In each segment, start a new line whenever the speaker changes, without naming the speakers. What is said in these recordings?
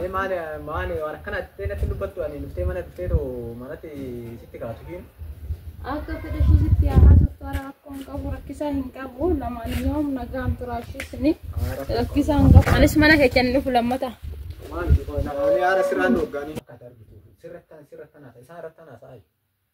Ee maali maali waan akkana jettee natti dubbattu ani dhuftee mana dhuftee too manatti sitti kaatu hin. Akka fedha
ishii sitti haa haasoftu hara rakkoo hin qabu rakkisaa hin qabu lamaan yoom nagaan turaa ishii sini rakkisaa hin qabu anis mana keessan dhufu lammata. Maali jechuun
ani haara sirraan dhoggaanii. Akka darbitu sirrattaan sirrattaan haasa isaa irrattaan haasa'aa.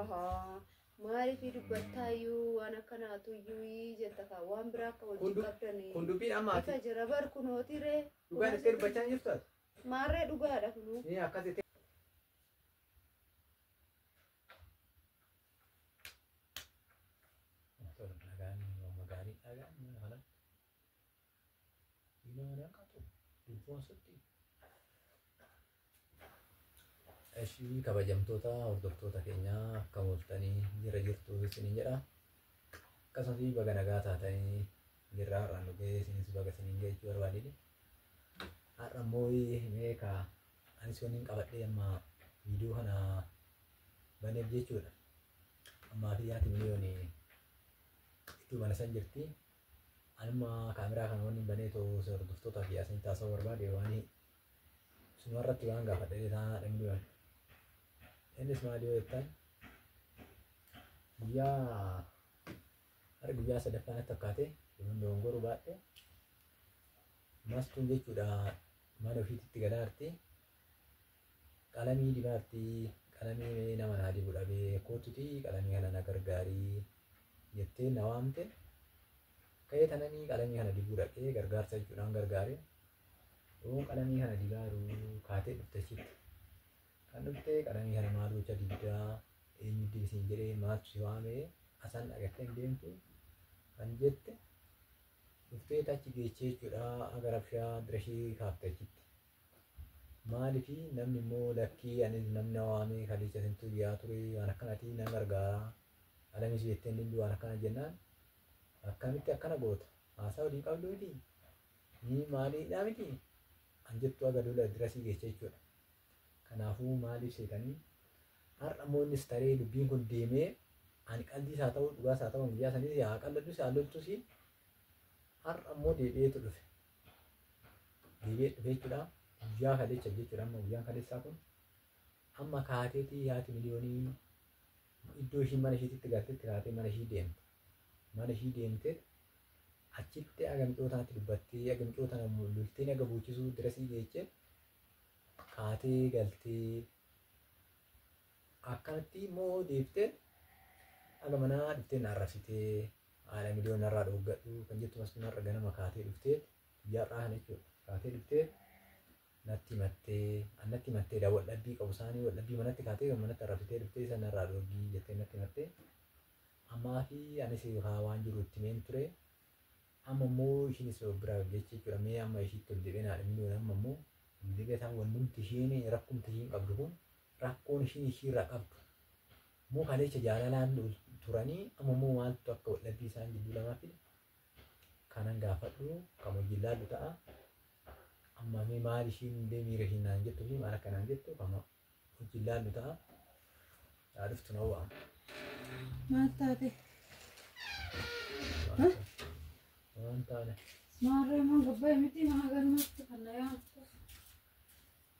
Ahaa.
Maaliif dubbattaa iyyuu waan akkanaatu iyyuu jetta kaa waan biraa akka Kun hojii du- qabdanii. kun dubbiin amma ati Ifa
jira bar kunooti
ree. dhugaan itti dubbachaa
jirtu ati. Maarree dhugaadha
kunuu. Ni akkas
itti. Nagaan, nama gaarii dhagaan, kana. Imaanaa qaxu dubboo asittii. Eshii kabajamtoota hordoftoota keenyaa akka mooltanii jira jirtu isiniin jedha. Akkasumas baga nagaa taatanii jirra har'a nu ga'ee isinis baga isiniin ga'e jechuu barbaadini. Har'a immoo mee ka anis wanni hin qabadhee amma viidiyoo kana baneef jechuudha. Ammaa fi yaati miliyooni itti mana san jirti. Anima kaameraa kana wanni banee too hordoftoota fi asinitti haasa'uu barbaade waan suma irratti waan gaafadhe illee taanaa dhabni waan. Innis maal yoo jettan guyyaa har'a guyyaa sadaffaa natti fakkaate yommuu dogongoruu baadhe mastuun jechuudha mana ofiitti itti galaarti Qalamii dibaartii qalamii mee nama naa dibu dhabee koottutii qalamii kana na gargaarii jettee na waamte ka'ee tananii qalamii kana dibuu dhaqee gargaarsa jechuudhaan gargaare yoon qalamii kana dibaaruu kaatee dhufte achitti kan dhuftee qalamii kana maal gocha dibdaa eenyu dibisiin jedhee maaltu si waamee asan dhagattee hin deemtu kan jette dhuftee tachi geechee jechuudha gara bishaa dirashii kaafte achitti Maalifi namni immoo lakkii anis namni na waamee kaleecha isintu iyyaa ture waan akkanati nan gargaara alamis beettee hin diddu waan akkana jennaan akkamitti akkana goota haasaa waliin qabdu miti ni maaliidhaa miti an jettu aga lola dirasii geecha jechuudha. Kanaafuu maaliif seetanii har'a immoo innis taree dubbiin kun deemee ani qaldiis haa ta'u dhugaas haa ta'u guyyaa saniis haa qalladus haa loltus har'a immoo deebi'eetu dhufe deebi'ee dhufe jechuudha. Guyyaa kaleessa jechuudha amma guyyaan kaleessaa kun amma kaateetii haati miliyoonii iddoo ishiin mana ishiitti galtetti kaatee mana ishii deemte. Mana ishii deemtee achitti aga micootaatti dubbattee aga micootaan ammoo lolteen aga boochisuu dirasii geechee kaatee galtee Akkanatti immoo deebitee haga manaa dhuftee na arrabsitee haadha miliyoon narraa dhooggadhu kan jettu masfin har'a ganama kaatee dhuftee guyyaa har'aa kana jechuudha kaatee dhuftee natti mattee an natti mattee daa wal dhabbii qabu isaanii wal dhabbii manatti kaatee kan manatti arrabsitee dhuftee isa narraa dhooggii jettee natti mattee ammaa fi anis haa waan jiru itti meen ture amma immoo ishiinis of biraa jecha jechuudha mee amma ishiitti ol deebi'ee naadha miliyoon amma immoo ol deebi'ee isaan wannumti ishiin rakkumti ishiin qabdu kun rakkoon ishiin ishiirraa qabdu immoo kaleecha jaalalaan turanii amma immoo maaltu akka waldhabbii isaan jidduu lamaa fide kanan gaafadhu kan wajjin laallu ta'a. Amma mee maal ishiin illee miira ishiin naan jettu fi maal akka naan jettu kan wajjin laallu ta'a. Yaa dhuftu na waama. Maal
taate?
Waan taane. Maarree maa
gabbaa'e miti maa galmatti kan na yaamtu.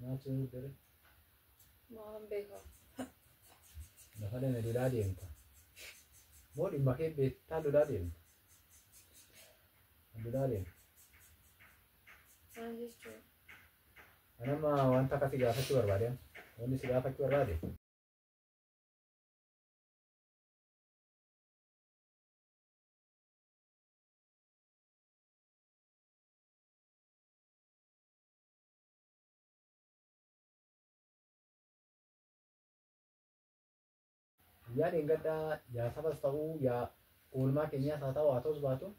Nyaachuu hin dure. Maalan
beekaa.
Lafa deeme lolaa deemta. Moo dhimma kee beektaa lolaa deemta. Lolaa deemta. Maal jechuudha? Anama wanta akka si gaafachuu barbaade. Wanni si gaafachuu barbaade. Guyyaa dheengaddaa yaa sabas ta'uu yaa oolmaa keenyaas haa ta'u haa ta'us baatu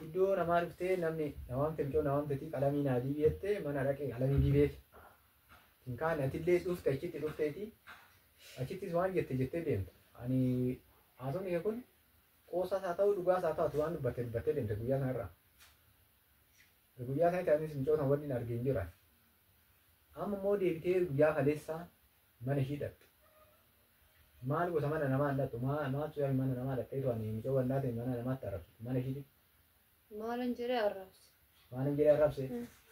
iddoo namaa dhuftee namni namaan filcoo namaan fitii qalamii naa diibii jettee mana dhaqee qalamii diibeef hin kaane atillee dhufte achitti dhufteeti achittis waan jette jettee deemte ani haasofni kee kun qoosaas haa ta'u dhugaas haa ta'u waan dubbatte dubbattee deemte guyyaa sanarraa Guyyaa sanitti anis mucoo san wanni arge hin jira. Amma immoo deebitee guyyaa kaleessaa mana ishii dhaqxe. Maal gosa mana namaa hin dhaqxu maaltu yaa mana namaa dhaqxeetu ani mucoo wannaa ta'e mana namaatti arrabsitu mana ishiitti. Maalan
jedhee arrabse. Maalan jedhee arrabse.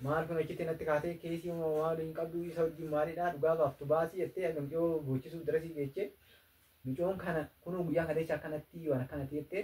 Maal kun achitti natti kaatee keesii moo maal hin qabdu isa wajjin maalidhaa dhugaa baaftu baasii jettee akka mucoo boochisuuf darasii geechee mucoon kana kunoo guyyaa kaleessa akkanatti waan akkanatti jettee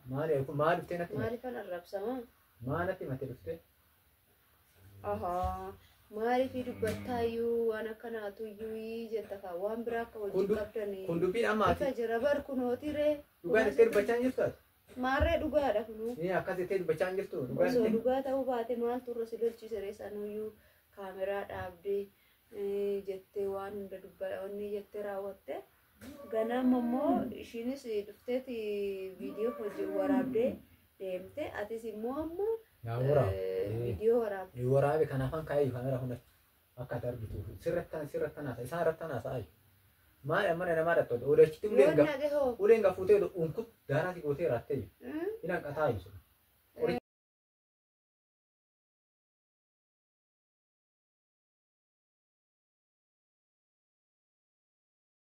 Maali kun maal dhuftee natti himate? Maaliifan arrabsama?
Maal natti himate
dhuftee? Ahaa.
Maaliif dubbattaa iyyuu waan akkanaatu iyyuu ii jetta kaa waan biraa akka Kun hojii du- qabdanii. Kun dubbiin amma ati Ifa
jira bar kunooti
ree. dhugaan itti dubbachaa
hin jirtu ati? Maarree dhugaadha
kunuu. Ni akkas itti dubbachaa hin
jirtu dhugaan Osoo itti. dhugaa ta'uu
baate maaltu irra si lolchiise ree sanuyyuu kaameraa dhaabdee eh, jettee waan hunda dubbatanii jettee raawwatte. Ganama immoo ishiinis dhufteeti viidiyoo hojii waraabdee deemte. Atis immoo amma Naa waraab. eh, viidiyoo waraabde. Ni waraabe kan afaan kaayee
kaamera hunda akka ati argituuf sirrattan sirrattan haasa isaan irrattan haasa'aa jiru. Maal ammana namaa irratti hodha odachitti uleen Yoo gaf naqe hoo? uleen gafuutee hodha unkut daaraati gootee raattee jiru. Hmm? Hin hanqataa jiru.